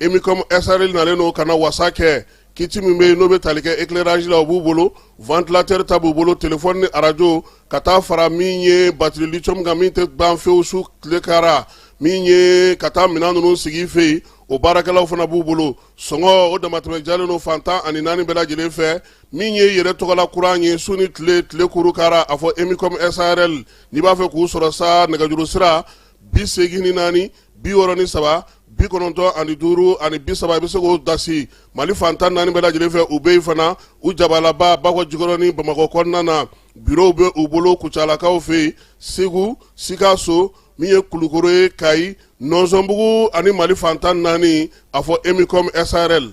emicom sarl nalen don ka na wasa kɛ kiti min bɛ yen n'o bɛ tali kɛ éclairage la o b'u bolo ventilateur ta b'u bolo téléphone ni arajo ka taa fara min ye batiri lithium kan min tɛ ban fewu su tile kara min ye ka taa minɛn ninnu sigi fɛ yen o baarakɛlaw fana b'u bolo sɔngɔ o damatɛmɛ jalen don fantan ani naani bɛɛ lajɛlen fɛ min ye yɛrɛ tɔgɔla kuran ye su ni tile tile kuru kara a fɔ emicom sarl n'i b'a fɛ k'u sɔrɔ sa nɛgɛjuru sira bi segin ni naani bi wɔɔrɔ ni saba bi kɔnɔntɔn ani duuru ani bi saba i bɛ se k'o dasi mali fantan naani bɛɛ lajɛlen fɛ u bɛ yen fana u jabalaba bakɔ jikɔrɔni bamakɔ kɔnɔna na birow bɛ u bolo kucalakaw fɛ yen segu sikaso min ye kulukoro ye kayi nɔnsɔnbugu ani mali fantan naani a fɔ emicom sarl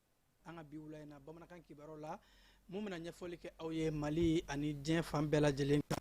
an ka bi wula in na bamanankan kibaruyaw la mun bɛna ɲɛfɔli kɛ aw ye mali ani diɲɛ fan bɛɛ lajɛlen kan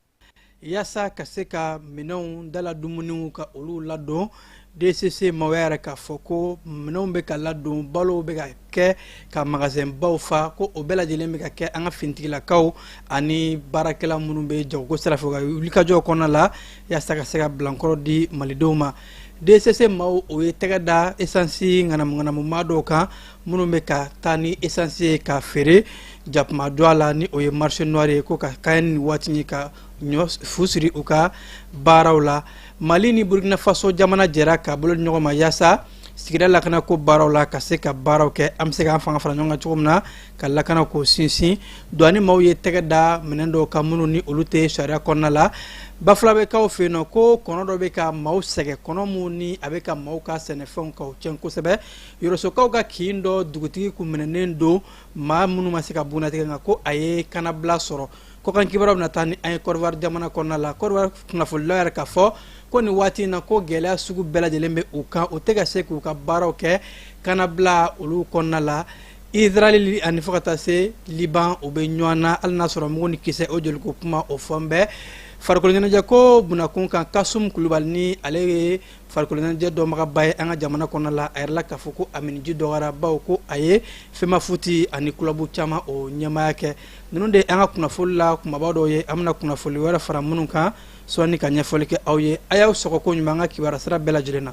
yaasa ka se ka minɛnw dala dumuniw ka olu ladon dcc maaw y'a yira k'a fɔ ko minɛnw bɛ ka ladon balow bɛ ka kɛ ka magasɛnbaw fa ko o bɛɛ lajɛlen bɛ ka kɛ an ka finitigilakaw ani baarakɛla minnu bɛ jagoko sira fɛ ka wulikajɔw kɔnɔna la yaasa ka se ka bilankɔrɔ di malidenw ma dcc maaw o ye tɛgɛ da esansi ŋanamuŋanamu maa dɔw kan minnu bɛ ka taa ni esansi ye ka feere jakuma don a la ni o ye marché noir ye ko ka kɛɲɛ ni waati ye ka ɲɔ fu siri u ka baaraw la mali ni burukinafaso jamana jɛra ka bolo di ɲɔgɔn ma yaasa sigida lakana ko baaraw la ka se ka baaraw kɛ an bɛ se k'an fanga fara ɲɔgɔn kan cogo min na ka lakana ko sinsin douane maaw ye tɛgɛ da minɛn dɔw kan minnu ni olu tɛ sariya kɔnɔna la bafulabɛkaw fɛ yen nɔ ko kɔnɔ dɔ bɛ ka maaw sɛgɛn kɔnɔ min ni a bɛ ka maaw ka sɛnɛfɛnw ka cɛn kosɛbɛ yɔrɔsokaw ka kin dɔ dugutigi kun minɛnen don maa minnu ma se ka bunnatigɛ nka ko a ye kanabila sɔrɔ kɔkan kibaruyaw bɛna taa ni an ye kɔdiwari jamana kɔnɔna la kɔdiwari kunnafolilaw y'a yira k'a fɔ ko nin waati in na ko gɛlɛya sugu bɛɛ lajɛlen bɛ u kan u tɛ ka se k'u ka baaraw kɛ kanabila olu kɔnɔna la Izrali ani fo ka taa se liban u bɛ ɲɔgɔn na hali n'a sɔrɔ mugu ni kisɛ o joli ko kuma o fɔlen bɛ farikoloɲɛnajɛ ko bunakun kan kasum kulubali ni ale ye farikoloɲɛnajɛ dɔnbagaba ye an ka jamana kɔnɔna la a yirala k'a fɔ ko a miniji dɔgɔyara bawo ko a ye femafoot ani kulubu caman o ɲɛmaya kɛ ninnu de an ka kunnafonili la kumaba dɔw ye an bɛna kunnafonili wɛrɛ fara minnu kan sɔɔni ka ɲɛfɔli kɛ aw ye a y'aw sɔgɔ ko ɲuman an ka kibaru sira bɛɛ lajɛlen na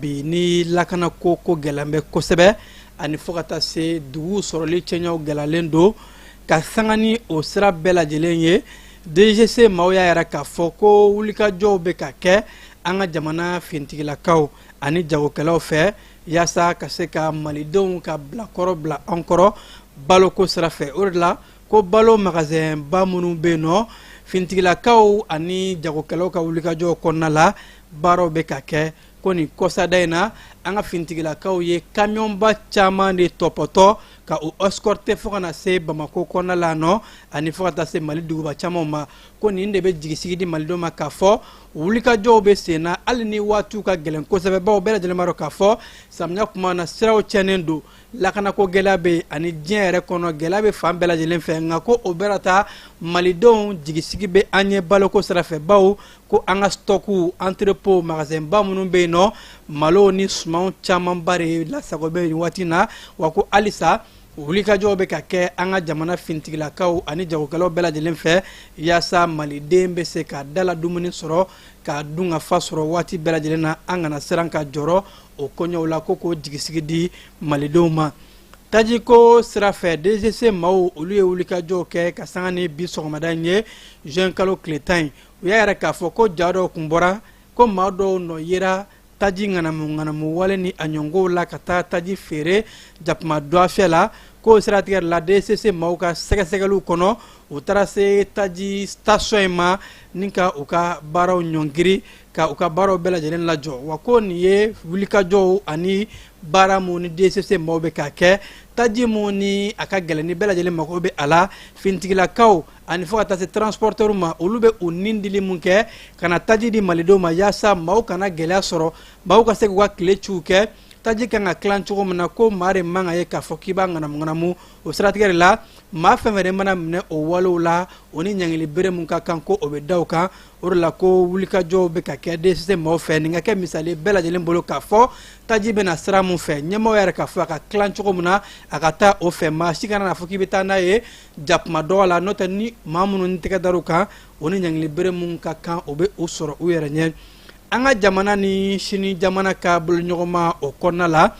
bi ni lakana ko ko gɛlɛn bɛ kosɛbɛ ani fo ka taa se dugu sɔrɔli cɛɲɛw gɛlɛyalen don ka sanga ni o sira bɛɛ lajɛlen ye dgc maaw y'a yira k'a fɔ ko wulikajɔw bɛ ka kɛ an ka jamana fintigilakaw ani jagokɛlaw fɛ yaasa ka se ka malidenw ka bilankɔrɔ bila an kɔrɔ baloko sira fɛ o de la ko balo magasɛnba minnu bɛ yen nɔ finitigilakaw ani jagokɛlaw ka wulikajɔw kɔnɔna la baaraw bɛ ka kɛ ko nin kɔsada in na an ka finitigilakaw ye kamiyɔnba caman de tɔpɔtɔ ka o escorter fo ka na se bamako kɔnɔna la nɔ ani fo ka taa se mali duguba camanw ma ko nin de bɛ jigisigi di malidenw ma k'a fɔ wulikajɔw bɛ sen na hali ni waatiw ka gɛlɛn kosɛbɛ bawo bɛɛ lajɛlen b'a dɔn k'a fɔ samiya kuma na siraw cɛnnen don lakanako gɛlɛya bɛ ani diɲɛ yɛrɛ kɔnɔ gɛlɛya bɛ fan bɛɛ lajɛlen fɛ nka ko o bɛɛ la taa malidenw jigisigi bɛ an ye baloko sirafɛ bawo ko an ka stock entrepôt magasɛnba minnu bɛ yen nɔ malo ni sumanw camanba de lasago bɛ nin waati na wa ko halisa wulikajɔw bɛ ka kɛ an ka jamana finitigilakaw ani jagokɛlaw bɛɛ lajɛlen fɛ yaasa maliden bɛ se ka dala dumuni sɔrɔ ka dunkafa sɔrɔ waati bɛɛ lajɛlen na an kana siran ka jɔrɔ o kɔɲɔw la ko k'o jigisigi di malidenw ma tajiko sira fɛ DCC maaw olu ye wulikajɔw kɛ ka sanga ni bi sɔgɔmada in ye juin kalo tile tan in u y'a yira k'a fɔ ko ja dɔw kun bɔra ko maa dɔw nɔ yera taji ŋanamu ŋanamu wale ni a ɲɔngow la ka taa taji feere jakuma dɔgɔfiyɛ la k'o siratigɛ de la DCC maaw ka sɛgɛsɛgɛliw kɔnɔ u taara se taji station in ma ni ka u ka baaraw ɲɔngiri ka u ka baaraw bɛɛ lajɛlen lajɔ wa ko nin ye wulikajɔw ani baara min ni DCC maaw bɛ k'a kɛ taji min ni a ka gɛlɛn ni bɛɛ lajɛlen mago bɛ a la finitigilakaw ani fo ka taa se transporteurs ma olu bɛ u ni dili min kɛ ka na taji di malidenw ma yaasa maaw kana gɛlɛya sɔrɔ maaw ka se k'u ka tile ciw kɛ taji kan ka tilan cogo min na ko maa de man ka ye k'a fɔ k'i b'a ŋanamuŋanamu o siratigɛ de la maa fɛn fɛn de mana minɛ o walew la o ni ɲangili bere min ka kan ko o bɛ da o kan o de la ko wulikajɔw bɛ ka kɛ DCC maaw fɛ nin ka kɛ misali bɛɛ lajɛlen bolo k'a fɔ taji bɛ na sira min fɛ ɲɛmaaw yɛrɛ k'a fɔ a ka tilan cogo min na a ka taa o fɛ maa si kana n'a fɔ k'i bɛ taa n'a ye jakuma dɔgɔ la n'o tɛ ni maa minnu ni tɛgɛ dar'u kan o ni ɲangili bere min ka kan o bɛ u sɔrɔ u yɛrɛ ɲɛ an ka jamana ni sini jamana ka boloɲɔgɔnma o kɔnɔna la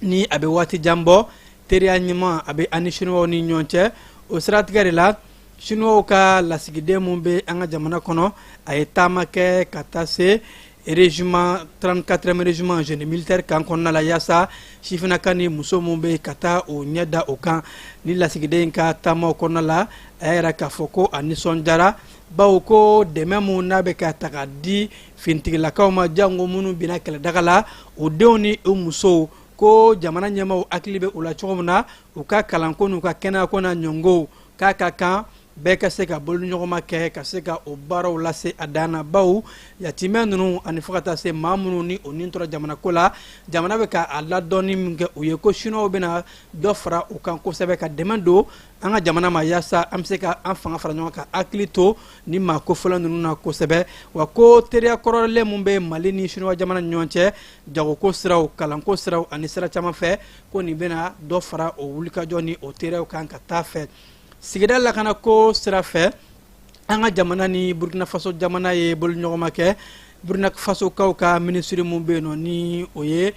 ni a bɛ waati jan bɔ teriya ɲuman a bɛ an ni siniwaw ni ɲɔgɔn cɛ o siratigɛ de la siniwaw ka lasigiden min bɛ an ka jamana kɔnɔ a ye taama kɛ ka taa se régiment 34e régiment génie militaire kan kɔnɔna la yaasa sifinaka ni muso min bɛ ka taa o ɲɛ da o kan ni lasigiden in ka taamaw kɔnɔna la a y'a yira k'a fɔ ko a nisɔndiyara bawo ko dɛmɛ min n'a bɛ ka ta ka di finitigilakaw ma jango minnu binna kɛlɛdaga la o denw ni u musow ko jamana ɲɛmaaw hakili bɛ u la cogo min na u ka kalanko n'u ka kɛnɛyako n'a ɲɔngow k'a ka kan bɛɛ ka se ka boloɲɔgɔnma kɛ ka se ka o baaraw lase a dan na bawo yatimɛ ninnu ani fo ka taa se maa minnu ni o ni tora jamanako la jamana bɛ ka a ladɔnni min kɛ u ye ko siniwaw bɛna dɔ fara o kan kosɛbɛ ka dɛmɛ don an ka jamana ma yaasa an bɛ se ka an fanga fara ɲɔgɔn ka hakili to ni maa kofɔlen ninnu na kosɛbɛ wa ko teriya kɔrɔlen min bɛ mali ni siniwa jamana ni ɲɔgɔn cɛ jagoko siraw kalanko siraw ani sira caman fɛ ko nin bɛna dɔ fara o wulikajɔ ni o teriyaw kan ka taa fɛ sigida lakana ko sira fɛ an ka jamana ni burkina faso jamana ye boloɲɔgɔnma kɛ burkina fasokaw ka minisiri min bɛ yen nɔ ni o ye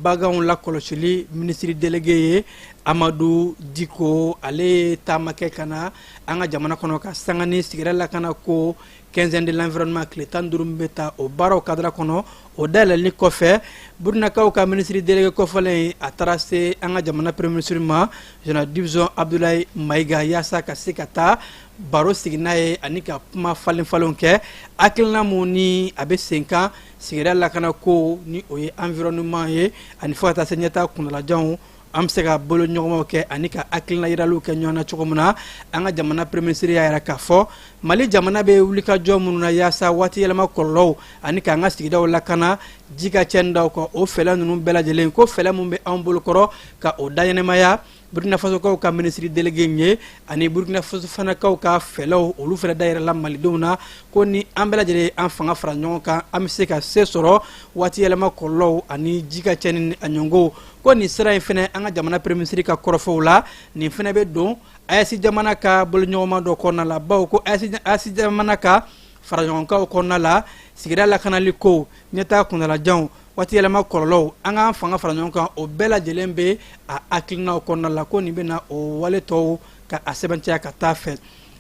baganw lakɔlɔsili minisiri delege ye amadu diko ale ye taama kɛ ka na an ka jamana kɔnɔ ka sanga ni sigida lakana ko quinzaine de l'environnement tile tan duuru min bɛ ta o baaraw kadira kɔnɔ o dayɛlɛli kɔfɛ burkinakaw ka minisiri delege kofɔlen a taara se an ka jamana premier minisiri ma général de division abudulayi mayiga yaasa ka se ka taa baro sigi n'a ye ani ka kuma falen falenw kɛ hakilina min ni a bɛ sen kan sigida lakana ko ni o ye environnement ye ani fo ka taa se ɲɛtaa kunnalajanw an bɛ se ka boloɲɔgɔnmaw kɛ ani ka hakilina yiraliw kɛ ɲɔgɔn na cogo min na an ka jamana premier minisiri y'a yira k'a fɔ mali jamana bɛ wulikajɔ minnu na yaasa waati yɛlɛma kɔlɔlɔw ani k'an ka sigidaw lakana ji ka cɛnni da kan o fɛlɛ ninnu bɛɛ lajɛlen ko fɛlɛ min bɛ an bolokɔrɔ ka o dayɛnɛmaya burkina fasokaw ka minisiri delege ye ani burkina faso fana kaw ka fɛlɛw olu fɛnɛ dayirala malidenw na ko ni an bɛɛ lajɛlen an fanga fara ɲɔgɔn kan an bɛ se ka se sɔrɔ waati yɛlɛma kɔlɔlɔw ani ji ka cɛnni ni a ɲɔngow ko nin sira in fɛnɛ an ka jamana premier minisiri ka kɔrɔfɔw la nin fɛnɛ bɛ don aes jamana ka boloɲɔgɔnma dɔ kɔnɔna la bawo ko aes jamana ka faraɲɔgɔnkan kɔnɔna la sigida lakanali kow ɲɛtaa kuntalajanw waati yɛlɛma kɔlɔlɔw an k'an fanga fara ɲɔgɔn kan o bɛɛ lajɛlen bɛ a hakilinaw kɔnɔna la ko nin bɛna o wale tɔw ka a sɛbɛntiya ka taa fɛ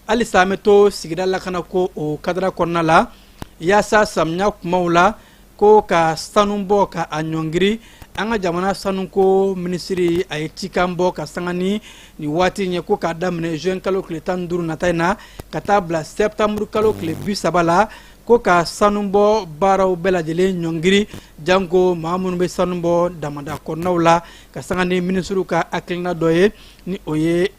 halisa an bɛ to sigida lakanako o kadara kɔnɔna la yaasa samiya kumaw la ko ka sanu bɔ ka a ɲɔngiri an ka jamana sanuko minisiri a ye cikan bɔ ka sanga ni nin waati in ye ko k'a daminɛ juin kalo tile tan ni duuru nata in na ka taa bila septembre kalo tile bi saba la ko ka sanubɔ baaraw bɛɛ lajɛlen ɲɔngiri janko maa minnu bɛ sanu bɔ damanda kɔnɔnaw la ka sanga ni minisiriw ka hakilina dɔ ye ni o ye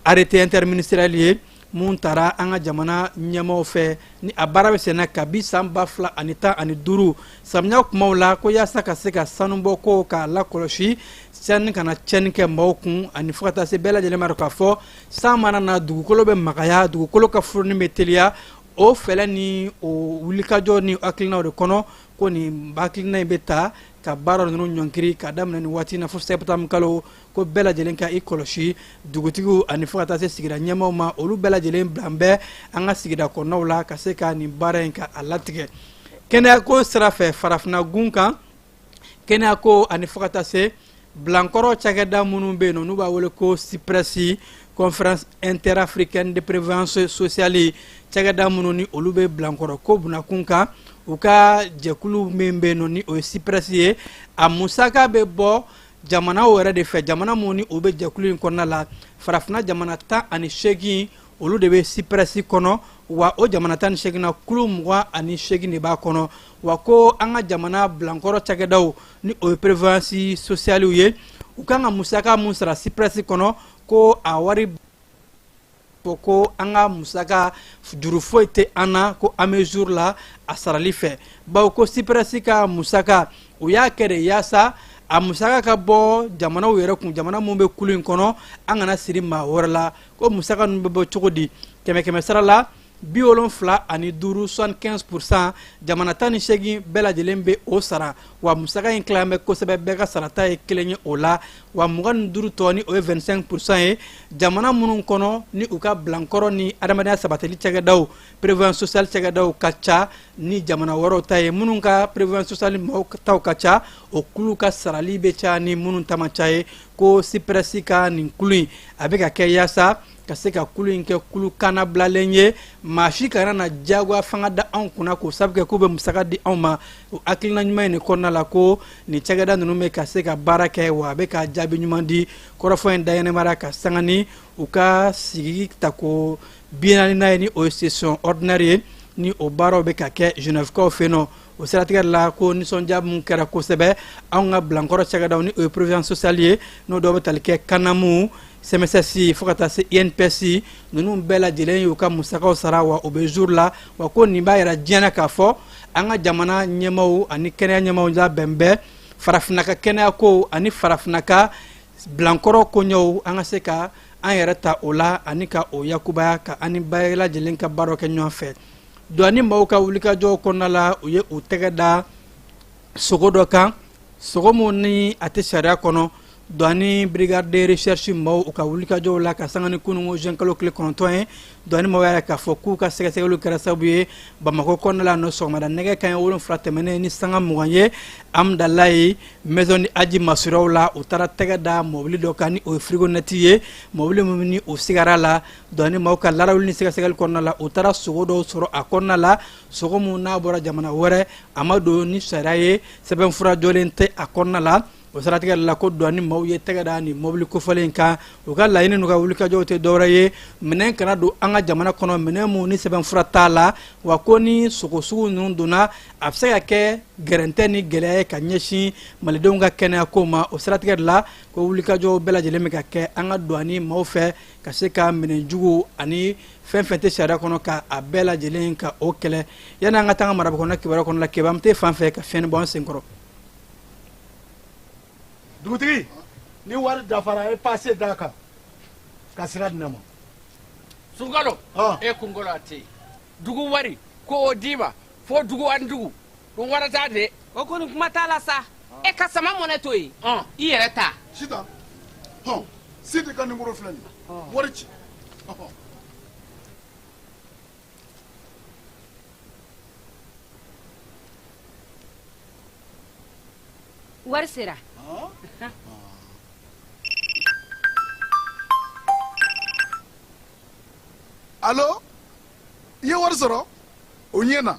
arrêté interministériel ye min tara an ka jamana ɲɛmaaw fɛ ni a baara bɛ senna kabi san ba fila ani tan ani duuru samiya kumaw la ko yaasa ka se ka sanubɔ ko k'a lakɔlɔsi sanji kana tiɲɛni kɛ maaw kun ani fo ka taa se bɛɛ lajɛlen b'a dɔn k'a fɔ san mana na dugukolo bɛ magaya dugukolo ka furuni bɛ teliya o fɛlɛ ni o wulikajɔ ni hakilinaw de kɔnɔ ko nin hakilina in bɛ ta ka baara ninnu ɲɔnkiri ka daminɛ nin waati in na fo septembre kalo ko bɛɛ lajɛlen ka i kɔlɔsi dugutigiw ani fo ka taa se sigida ɲɛmaaw ma olu bɛɛ lajɛlen bilan bɛ an ka sigida kɔnɔnaw la ka se ka nin baara in ka a latigɛ kɛnɛyako sira fɛ farafinna gun kan kɛnɛyako ani fo ka taa se bilankɔrɔ cakɛda minnu bɛ yen nɔ n'u b'a wele ko siprɛsi conférence interafricaine de prévoyance sociale cakɛda minnu ni olu bɛ bilankɔrɔ ko bunakun kan u ka jɛkulu min bɛ yen nɔ ni o ye siprɛsi ye a musaka bɛ bɔ jamanaw yɛrɛ de fɛ jamana minnu ni o bɛ jɛkulu in kɔnɔna la farafina jamana tan ani seegin olu de bɛ siprɛsi kɔnɔ wa o jamana tan ni seegin na kulu mugan ani seegin de b'a kɔnɔ wa ko an ka jamana bilankɔrɔ cakɛdaw ni o ye prévoyance socialew ye u kan ka musaka min sara siprɛsi kɔnɔ ko a wari ko ko an ka musaka juru foyi tɛ an na ko an bɛ jour la a sarali fɛ bawo ko siprɛsi ka musaka u y'a kɛ de yaasa a musaka ka bɔ jamanaw yɛrɛ kun jamana minnu bɛ kulu in kɔnɔ an kana siri maa wɛrɛ la ko musaka ninnu bɛ bɔ cogo di kɛmɛ kɛmɛ sara la bi wolonfila ani duuru soixante quinze pour cent jamana tan ni seegin bɛɛ lajɛlen bɛ o sara wa musaka in tilan bɛ kosɛbɛ bɛɛ ka sarata ye kelen ye o la wa mugan ni duuru tɔ ni o ye 25 pourcent ye jamana minnu kɔnɔ ni u ka bilankɔrɔ ni adamadenya sabatili cakɛdaw prévoyance sociale cakɛdaw ka ca ni jamana wɛrɛw ta ye minnu ka prévoyance sociale mɔgɔw taw ka ca o kulu ka sarali bɛ ca ni minnu ta man ca ye ko siprɛsi ka nin kulu in a bɛ ka kɛ yaasa ka se ka kulu in kɛ kulu kannabilalen ye maa si kana na diyagoya fanga da anw kunna k'o sabu kɛ k'u bɛ musaka di anw ma o hakilina ɲuman in de kɔnɔna la ko nin cakɛda ninnu bɛ ka se ka baara kɛ wa a bɛ ka jaabi ɲuman di kɔrɔfɔ in dayɛlɛmara ka sanga ni u ka sigi tako bi naaninan ye ni o ye session ordinaire ye ni o baaraw bɛ ka kɛ genèvekaw fɛ yen nɔ o siratigɛ la ko nisɔndiya min kɛra kosɛbɛ anw ka bilankɔrɔ cakɛdaw ni o ye prévoyance sociale ye n'o dɔw bɛ tali kɛ kanamu sɛmɛsɛsi fo ka taa se inps ninnu bɛɛ lajɛlen y'u ka musakaw sara wa o bɛ jour la wa ko nin b'a yira diɲɛ na k'a fɔ an ka jamana ɲɛmaaw ani kɛnɛya ɲɛmaaw labɛn bɛ farafinna ka kɛnɛya ko ani farafinna ka bilankɔrɔ koɲɛw an ka se ka an yɛrɛ ta o la ani ka o yakubaya ka an ni bɛɛ lajɛlen ka baaraw kɛ ɲɔgɔn fɛ Douane maaw ka wulikajɔw kɔnɔna la u ye u tɛgɛ da sogo dɔ kan sogo min ni a tɛ sariya kɔnɔ douane brigade de recherche maaw u ka wulikajɔw la ka sanga ni kunun juin kalo tile kɔnɔntɔn ye douane maaw y'a k'a fɔ k'u ka sɛgɛsɛgɛli kɛra sababu ye bamakɔ kɔnɔna la nɔ sɔgɔmada nɛgɛ kanɲɛ wolonfila tɛmɛnen ni sanga mugan ye amidalayi maison de aji masuraw la u taara tɛgɛ da mɔbili dɔ kan ni o ye frigonette ye mɔbili min ni u sigara la douane maaw ka larawuli ni sɛgɛsɛgɛli kɔnɔna la u taara sogo dɔw sɔrɔ a kɔnɔna la sogo mun n'a bɔra jamana wɛrɛ a ma don ni sariya ye sɛbɛnfura jɔlen tɛ a kɔnɔna la o siratigɛ la ko douane maaw ye tɛgɛ da nin mɔbili kofɔlen kan u ka laɲini n'u ka wulikajɔw tɛ dɔwɛrɛ ye minɛn kana don an ka jamana kɔnɔ minɛn mun ni sɛbɛnfura t'a la wa ko ni sogo sugu ninnu donna a bɛ se ka kɛ gɛrɛntɛ ni gɛlɛya ye ka ɲɛsin malidenw ka kɛnɛya ko ma o siratigɛ la ko wulikajɔw bɛɛ lajɛlen bɛ ka kɛ an ka douane maaw fɛ ka se ka minɛn jugu ani fɛn fɛn tɛ sariya kɔnɔ ka a bɛɛ lajɛlen ka o kɛlɛ yanni an ka taa an ka maraba kɔnɔ kibaruya kɔnɔ la kebam tɛ fan fɛ ka fiɲɛni bɔ an senkɔrɔ dugutigi ni wari dafara e paase d'a kan ka sira di ne ma sunkalo e kunkolo a tɛ yen dugu wari ko o d'i ma fo dugu ani dugu ko wari t'a de o kɔni kuma t'a la sa e ka sama money to yen i yɛrɛ ta sita hɔn sidi ka nimoro filɛ nin wari ci wari sera alo i ye wari sɔrɔ o ɲɛna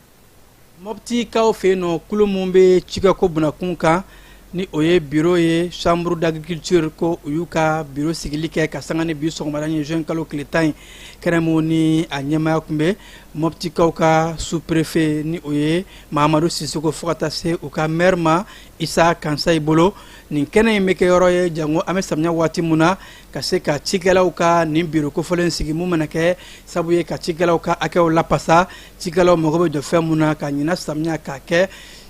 mɔptikaw fɛ yen nɔ kulu mun bɛ cikɛko bunakun kan ni o ye biro ye chambre d'agriculture ko u y'u ka biro sigili kɛ ka sanga ni bi sɔgɔmada ye juin kalo tile tan ye kɛnɛ mun ni a ɲɛmaya kun bɛ mɔptikaw ka sous-préfet ni o ye mahamadu sisoko fo ka taa se u ka maire ma isa kansayi bolo nin kɛnɛ in bɛ kɛ yɔrɔ ye jango an bɛ samiya waati mun na ka se ka cikɛlaw ka nin biro kofɔlen sigi mun mana kɛ sabu ye ka cikɛlaw ka hakɛw lapasa cikɛlaw mago bɛ jɔ fɛn mun na ka ɲina samiya k'a kɛ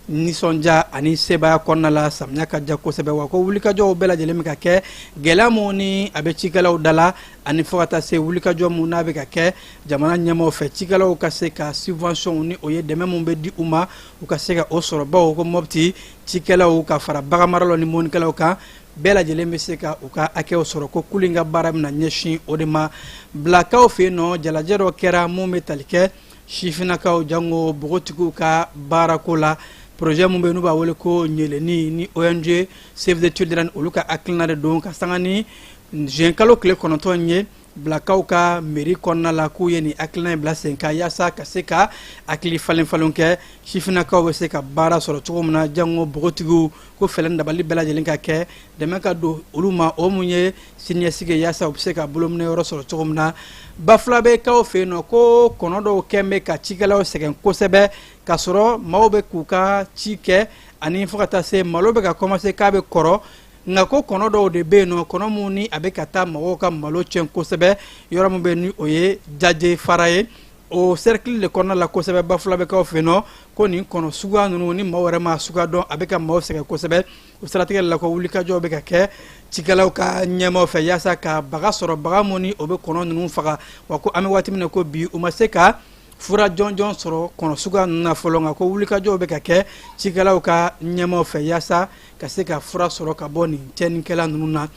nisɔndiya ani sebaaya kɔnɔna la samiya ka ja kosɛbɛ wa ko wulikajɔw bɛɛ lajɛlen bɛ ka kɛ gɛlɛya mun ni a bɛ cikɛlaw da la ani fo ka taa se wulikajɔ mun n'a bɛ ka kɛ jamana ɲɛmaaw fɛ cikɛlaw ka se ka subvention ni o ye dɛmɛ mun bɛ di u ma u ka se ka o sɔrɔ bawo ko mɔpti cikɛlaw ka fara baganmaralaw ni mɔnikɛlaw kan bɛɛ lajɛlen bɛ se ka u ka hakɛw sɔrɔ ko kulu in ka baara bɛna ɲɛsin o de ma bilakaw fɛ yen nɔ jalajɛ dɔ kɛra mun bɛ tali kɛ sifinnakaw jango bogotigiw ka baarako la projet mun bɛ yen n'u b'a wele ko ɲeleni ni ong save the children olu ka hakilina de don ka sanga ni juin kalo tile kɔnɔntɔn ye bilakaw ka meri kɔnɔna la k'u ye nin hakilina in bila sen kan yaasa ka se ka hakili falen falen kɛ sifinnakaw bɛ se ka baara sɔrɔ cogo min na jango bogotigiw ko fɛɛrɛ ni dabali bɛɛ lajɛlen ka kɛ dɛmɛ ka don olu ma o mun ye siniɲɛsigi yaasa u bɛ se ka bolominɛ yɔrɔ sɔrɔ cogo min na bafulabɛkaw fɛ yen nɔ ko kɔnɔ dɔw kɛlen bɛ ka cikɛlaw sɛgɛn kosɛbɛ k'a sɔrɔ maaw bɛ k'u ka ci kɛ ani fo ka taa se malo bɛ ka kɔmanse k'a bɛ kɔrɔ nka ko kɔnɔ dɔw de bɛ yen nɔ kɔnɔ min ni a bɛ ka taa mɔgɔw ka malo tiɲɛ kosɛbɛ yɔrɔ min bɛ ni o ye jaje fara ye o serikili de kɔnɔna la kosɛbɛ bafulabɛkaw fɛ yen nɔ ko nin kɔnɔ suguya ninnu ni maaw yɛrɛ ma suguya dɔn a bɛ ka maaw sɛgɛn kosɛbɛ o siratigɛ la ko wulikajɔw bɛ ka kɛ cikɛlaw ka ɲɛmaaw fɛ yaasa ka baga sɔrɔ baga min ni o bɛ kɔnɔ ninnu faga wa ko an bɛ waati min na ko bi u ma se ka fura jɔnjɔn sɔrɔ kɔnɔ suguya ninnu na fɔlɔ nka ko wulikajɔw bɛ ka kɛ cikɛlaw ka ɲɛmaaw fɛ yaasa ka se ka fura sɔrɔ ka bɔ nin tiɲɛnikɛla ninnu na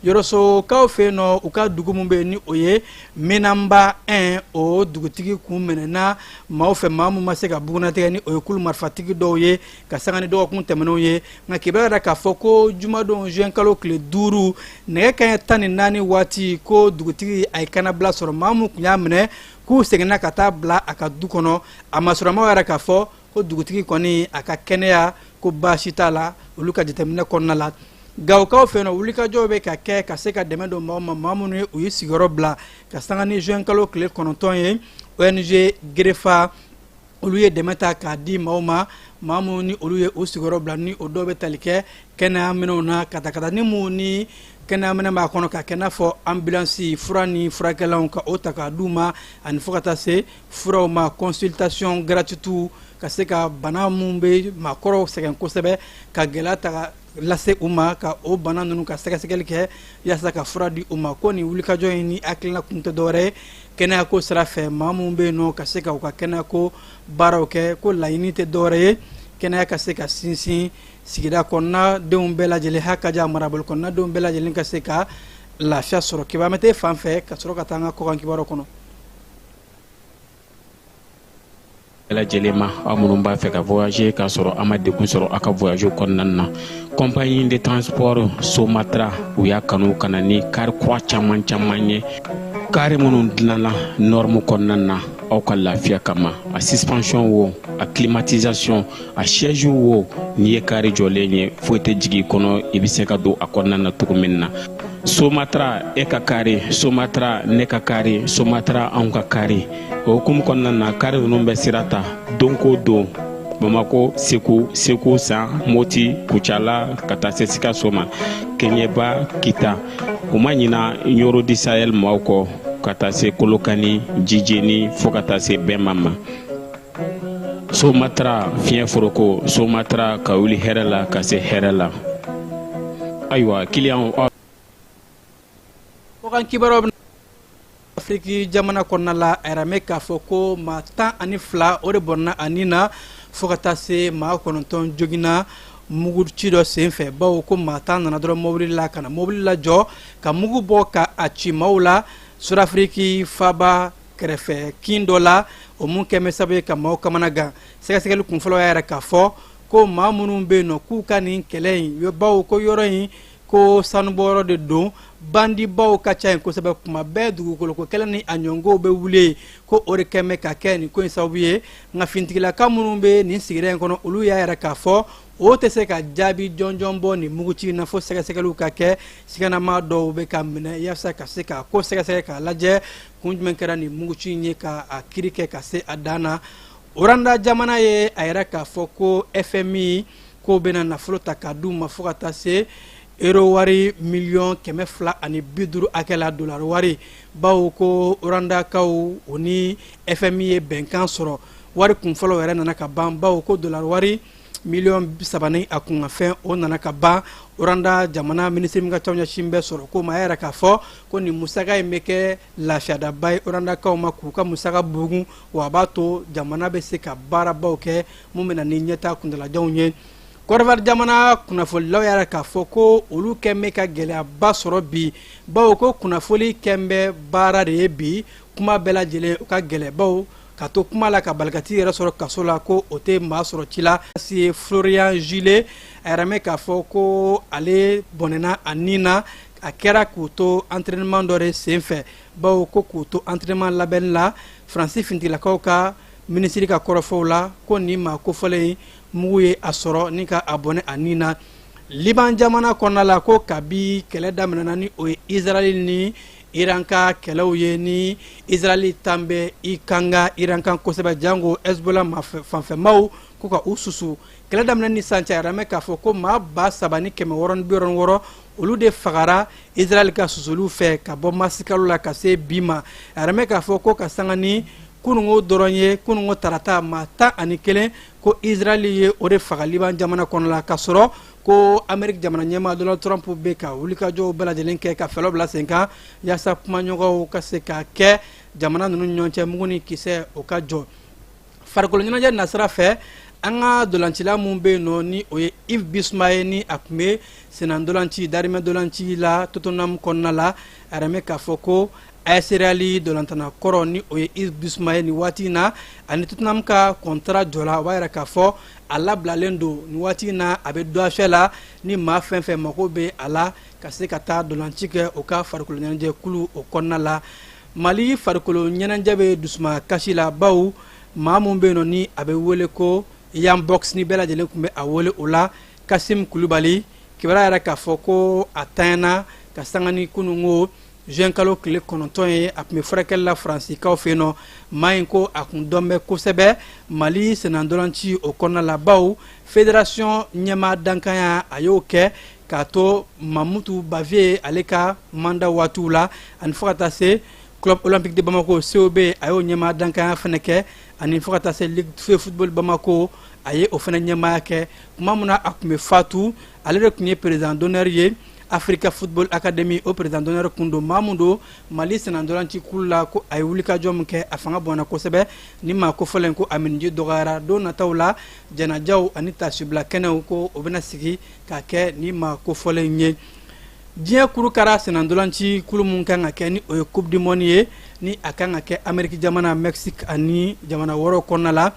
yɔrɔsokaw fɛ yen nɔ u ka dugu min bɛ yen ni o ye menanba 1 o dugutigi kun minɛna maaw fɛ maa min ma se ka bugunnatigɛ ni o ye kulu marifatigi dɔw ye ka sanga ni dɔgɔkun tɛmɛnenw ye nka kibaru y'a yira k'a fɔ ko jumadon juin kalo tile duuru nɛgɛ kanɲɛ tan ni naani waati ko dugutigi a ye kannabila sɔrɔ maa min tun y'a minɛ k'u seginna ka taa bila a ka du kɔnɔ a masurunna maaw y'a yira k'a fɔ ko dugutigi kɔni a ka kɛnɛyako baasi t'a la olu ka jateminɛ kɔnɔna la gawokaw fɛ yen nɔ wulikajɔw bɛ ka kɛ ka se ka dɛmɛ don maaw ma maa minnu ye u ye sigiyɔrɔ bila ka sanga ni juin kalo tile kɔnɔntɔn ye ong gerefa olu ye dɛmɛ ta k'a di maaw ma maa minnu ni olu ye u sigiyɔrɔ bila ni o dɔw bɛ tali kɛ kɛnɛya minɛnw na katakatanin min ni kɛnɛya minɛn b'a kɔnɔ k'a kɛ n'a fɔ anbilansi fura ni furakɛlanw ka o ta k'a d'u ma ani fo ka taa se furaw ma consultation gratuite ka se ka bana minnu bɛ maakɔrɔw sɛgɛn kosɛbɛ ka gɛlɛya ta lase u ma ka o bana ninnu ka sɛgɛsɛgɛli kɛ yaasa ka fura di u ma ko nin wulikajɔ in ni hakilina kun tɛ dɔwɛrɛ ye kɛnɛyako sira fɛ maa minnu bɛ yen nɔ ka se ka u ka kɛnɛyako baaraw kɛ ko laɲini tɛ dɔwɛrɛ ye kɛnɛya ka se ka sinsin sigida kɔnɔna denw bɛɛ lajɛlen ha ka ja marabolo kɔnɔna denw bɛɛ lajɛlen ka se ka lafiya sɔrɔ kibamɛte fan fɛ ka sɔrɔ ka taa an ka kɔkan kibaruw kɔnɔ lajɛlen ma aw minnu b'a fɛ ka voyager k'a sɔrɔ a ma degun sɔrɔ a ka voyage kɔnɔna na compagnie de transport somatra u y'a kanu ka na ni kari kura caman caman ye kari minnu dilanna norme kɔnɔna na aw ka lafiya kama a suspension wo a climatisation a siège wo n'i ye kari jɔlen ye foyi tɛ jigin i kɔnɔ i bɛ se ka don a kɔnɔna na cogo min na somatra e ka kari somatra ne ka kari somatra anw ka kari o hukumu kɔnɔna na kari ninnu bɛ sira ta don ko don bamako segu segu san moti kucala ka taa se sikaso ma keɲeba kita u ma ɲina ɲoro du sahel maaw kɔ ka taa se kolokani jijeni fo ka taa se bema ma somatra fiɲɛ foroko somatra ka wuli hɛrɛ la ka se hɛrɛ la ayiwa kiliyan kɔkan kibaruyaw bɛ afiriki jamana kɔnɔna la a yiran bɛ k'a fɔ ko maa tan ani fila o de bɔnna a ni na fo ka taa se maa kɔnɔntɔn joginna mugu ci dɔ senfɛ bawo ko maa tan nana dɔrɔn mobili la ka na mobili lajɔ ka mugu bɔ ka a ci maaw la sudafiriki faba kɛrɛfɛ kin dɔ la o mun kɛn bɛ sababu ye ka maaw kamana gan sɛgɛsɛgɛli kunfɔlɔ y'a yira k'a fɔ ko maa minnu bɛ yen nɔ k'u ka nin kɛlɛ in bawo ko yɔrɔ in ko sanubɔyɔrɔ de don bandibaw ka ca yen kosɛbɛ kuma bɛɛ dugukoloko kɛlɛ ni a ɲɔgɔnw bɛ wuli ko o de kɛn bɛ ka kɛ nin ko in sababu ye nka finitigilaka minnu bɛ nin sigida in kɔnɔ olu y'a yira k'a fɔ o tɛ se ka jaabi jɔnjɔn bɔ nin muguci in na fo sɛgɛsɛgɛliw ka kɛ siganama dɔw bɛ ka minɛ yaasa ka se ka ko sɛgɛsɛgɛ k'a lajɛ kun jumɛn kɛra nin muguci in ye ka a kiri kɛ ka se a dan na rwanda jamana ye a yira k'a fɔ ko fmi k'o bɛna nafolo ta k'a d'u ma fo ka taa se euro wari miliyɔn kɛmɛ fila ani bi duuru hakɛ la dolari wari bawo ko rwandakaw o ni fmi ye bɛnkan sɔrɔ wari kunfɔlɔ yɛrɛ nana ka ban bawo ko dolari wari miliyɔn saba ni a kunkanfɛn o nana ka ban rwanda jamana minisiri min ka ca ɲɛsin bɛ sɔrɔko ma y'a yira k'a fɔ ko nin musaka in bɛ kɛ lafiyadaba ye rwandakaw ma k'u ka musaka bugun wa a b'a to jamana bɛ se ka baarabaw kɛ mun bɛ na ni ɲɛtaa kuntalajanw ye kɔdiwari jamana kunnafonilaw y'a yira k'a fɔ ko olu kɛn bɛ ka gɛlɛyaba sɔrɔ bi bawo ko kunnafoni kɛn bɛ baara de ye bi kuma bɛɛ lajɛlen o ka gɛlɛn bawo ka to kuma la ka bali ka t'i yɛrɛ sɔrɔ kaso la ko o tɛ maa sɔrɔ ci la si ye florian gillet a yiran bɛ k'a fɔ ko ale bɔnɛna a ni na a kɛra k'u to entraînement dɔ de sen fɛ bawo ko k'u to entraînement labɛnni la faransi fintigilakaw ka minisiri ka kɔrɔfɔw la ko nin maa kofɔlen mugu ye a sɔrɔ ni ka a bɔnɛ a ni na liban jamana kɔnɔna la ko kabi kɛlɛ daminɛna ni o ye israɛl ni iran ka kɛlɛw ye ni israɛli tan bɛ i kanga iran kan kosɛbɛ jango hezbola fanfɛmaw ko ka u susu kɛlɛ daminɛ ni sisan cɛ a yiran bɛ k'a fɔ ko maa ba saba ni kɛmɛ wɔɔrɔ ni bi wɔɔrɔ ni wɔɔrɔ olu de fagara israɛli ka susuliw fɛ ka bɔ marisikalo la ka se bi ma a yiran bɛ k'a fɔ ko ka sanga ni kunungo dɔrɔn ye kunungo tarata maa tan ani kelen ko israɛli ye o de faga liban jamana kɔnɔ la ka sɔrɔ ko ameriki jamana ɲɛmaa donald trump bɛ ka wulikajɔw bɛɛ lajɛlen kɛ ka fɛɛrɛw bila sen kan yaasa kumaɲɔgɔnw ka se ka kɛ jamana ninnu ɲɔgɔn cɛ mugu ni kisɛ o ka jɔ farikolo ɲɛnajɛ nasira fɛ an ka dolancila min bɛ yen nɔ ni o ye yves bissouma ye ni a tun bɛ senna dolanci darimɛ dolanci la tottenham kɔnɔna la a yiran bɛ k'a fɔ ko as real dɔlantana kɔrɔ ni o ye yves bissouma ye nin waati in na ani tottenham ka kɔntara jɔla o b'a yira k'a fɔ a labilalen don nin waati in na a bɛ dɔafɛ la ni maa fɛn fɛn mago bɛ a la ka se ka taa dɔlanci kɛ o ka farikolo ɲɛnajɛ kulu o kɔnɔna la mali farikolo ɲɛnajɛ bɛ dusuma kasi la bawo maa min bɛ yen nɔ ni a bɛ wele ko yan box ni bɛɛ lajɛlen tun bɛ a wele o la kasim kulubali kibaruya yira k'a fɔ ko a tanyana ka sanga ni kununko juin kalo tile kɔnɔntɔn ye a tun bɛ furakɛli la faransikaw fɛ yen nɔ maa in ko a kun dɔn bɛ kosɛbɛ mali senandɔlanci o kɔnɔna la bawo federasiyɔn ɲɛmaa dankanya a y'o kɛ k'a to mamoutou bavieux ale ka manda waatiw la ani fo ka taa se club olympique de bamako cob a y'o ɲɛmaa dankanya fana kɛ ani fo ka taa se ligue de football de bamako a ye o fana ɲɛmaaya kɛ tuma min na a tun bɛ fatu ale de tun ye président d'honneur ye africa football academy o président d'honneur kun don maa min don mali senandolanci kulu la ko a ye wulikajɔ min kɛ a fanga bɔnna kosɛbɛ ni maa kofɔlen ko a minniji dɔgɔyara don nataw la janajaw ani tasibila kɛnɛw ko o bɛna sigi ka kɛ ni maa kofɔlen ye diɲɛ kuru kara senandolanci kulu min kan ka kɛ ni o ye coupe du monde ye ni a kan ka kɛ ameriki jamana mexique ani jamana wɛrɛw kɔnɔna la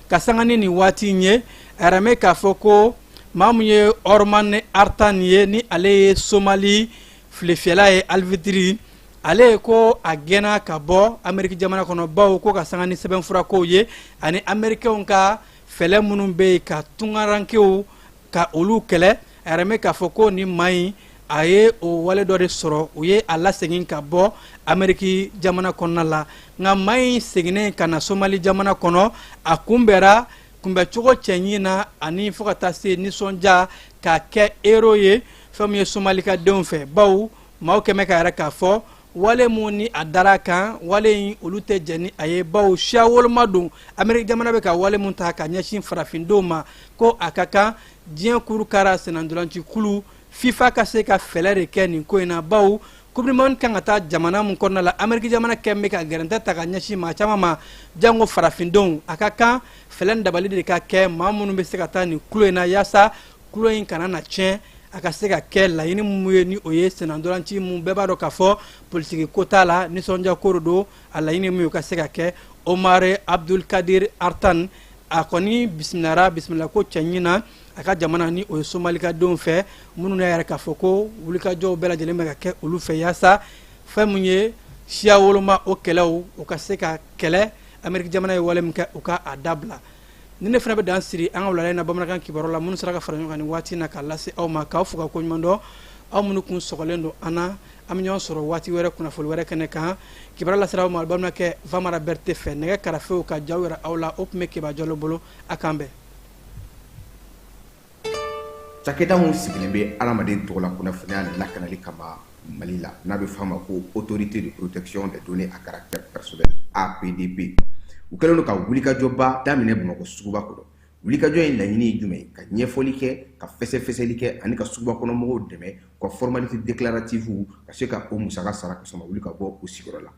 ka sanga ni nin waati in ye a yiralen bɛ k'a fɔ ko maa min ye omar artan ye ni ale ye somali filefiyɛla ye arbitre ale ye ko a gɛnna ka bɔ ameriki jamana kɔnɔ bawo ko ka sanga ni sɛbɛnfurakow ye ani amerikɛnw ka fɛɛlɛ minnu bɛ yen ka tunkarankew ka olu kɛlɛ a yiralen bɛ k'a fɔ ko nin maa in a ye o wale dɔ de sɔrɔ u ye a lasegin ka bɔ ameriki jamana kɔnɔna la nka maa in seginnen ka na somali jamana kɔnɔ a kunbɛra kunbɛcogo cɛɲi na ani fo ka taa se nisɔndiya ka kɛ héros ye fɛn min ye somalikadenw fɛ bawo maaw kɛn bɛ k'a yira k'a fɔ wale min ni a dara kan wale in olu tɛ jɛn ni a ye bawo siya woloma don ameriki jamana bɛ ka wale min ta ka ɲɛsin farafindenw ma ko a ka kan diɲɛ kuru kara senandolanci kulu fifa ka se ka fɛɛlɛ de kɛ nin ko in na bawo coupe du monde kan ka taa jamana min kɔnɔna la ameriki jamana kɛn bɛ ka gɛrɛntɛ ta ka ɲɛsin maa caman ma janko farafindenw a ka kan fɛɛlɛ ni dabali de ka kɛ maa minnu bɛ se ka taa nin kulu in na yaasa kulu in kana na tiɲɛ a ka se ka kɛ laɲini min ye ni o ye senandolanci min bɛɛ b'a dɔn k'a fɔ politiki ko t'a la nisɔndiya ko de don a laɲini min ye o ka se ka kɛ omar abdul kadir artan a kɔni bisimilala bisimilako cɛɲi na a ka jamana ni o ye somalikadenw fɛ minnu y'a yira k'a fɔ ko wulikajɔw bɛɛ lajɛlen bɛ ka kɛ olu fɛ yaasa fɛn min ye siya woloma o kɛlɛw u ka se ka kɛlɛ ameriki jamana ye wale min kɛ u ka a dabila nin ne fana bɛ dan siri an ka wulada in na bamanankan kibaru la minnu sera ka fara ɲɔgɔn kan nin waati in na k'a lase aw ma k'aw fo ka ko ɲuman dɔn aw minnu kun sɔgɔlen don an na an bɛ ɲɔgɔn sɔrɔ waati wɛrɛ kunnafoni wɛrɛ kɛnɛ kan kibaru lasera aw ma balimakɛ vamara bɛrɛte fɛ nɛgɛ karafew ka jaw yira aw la o tun bɛ keba jalo bolo a k'an bɛn Cakɛda min sigilen bɛ hadamaden tɔgɔ la kunnafoniya lakanali kama Mali la, n'a bɛ f'a ma ko autorité de protection des données à caractère personnel, APDP, u kɛlen don ka wulikajɔba daminɛ Bamakɔ suguba kɔnɔ. Wulikajɔ in laɲini ye jumɛn ye? Ka ɲɛfɔli kɛ, ka fɛsɛfɛsɛli kɛ ani ka sugubakɔnɔmɔgɔw dɛmɛ u ka formalités déclaratives ka se ka o musaka sara ka sɔrɔ u ma wuli ka bɔ u sigiyɔrɔ la.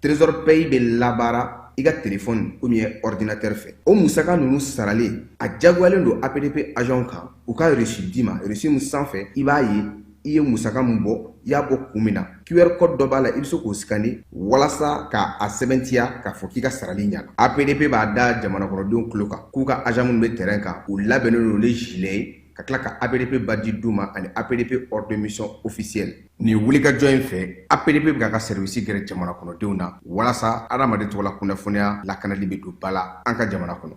trésor pay bɛ labaara i ka telefɔni ou bien ɔridinatɛri fɛ o musaka ninnu saralen a jagoyalen don apdp agentw kan u ka reçu d'i ma reçu min sanfɛ i b'a ye i ye musaka min bɔ i y'a bɔ kun min na qr code dɔ b'a la i bɛ se k'o scanner walasa ka a sɛbɛntiya k'a fɔ k'i ka sarali ɲana apdp b'a da jamana kɔnɔdenw tulo kan k'u ka agent minnu bɛ terrain kan u labɛnnen don ni gilet ye ka tila ka APDP badge d'u ma ani APDP ordre de mission officiel nin wulikajɔ in fɛ APDP bɛ k'a ka sɛriwisi gɛrɛ jamana kɔnɔdenw na walasa adamaden tɔgɔla kunnafoniya lakanali bɛ don ba la an ka jamana kɔnɔ.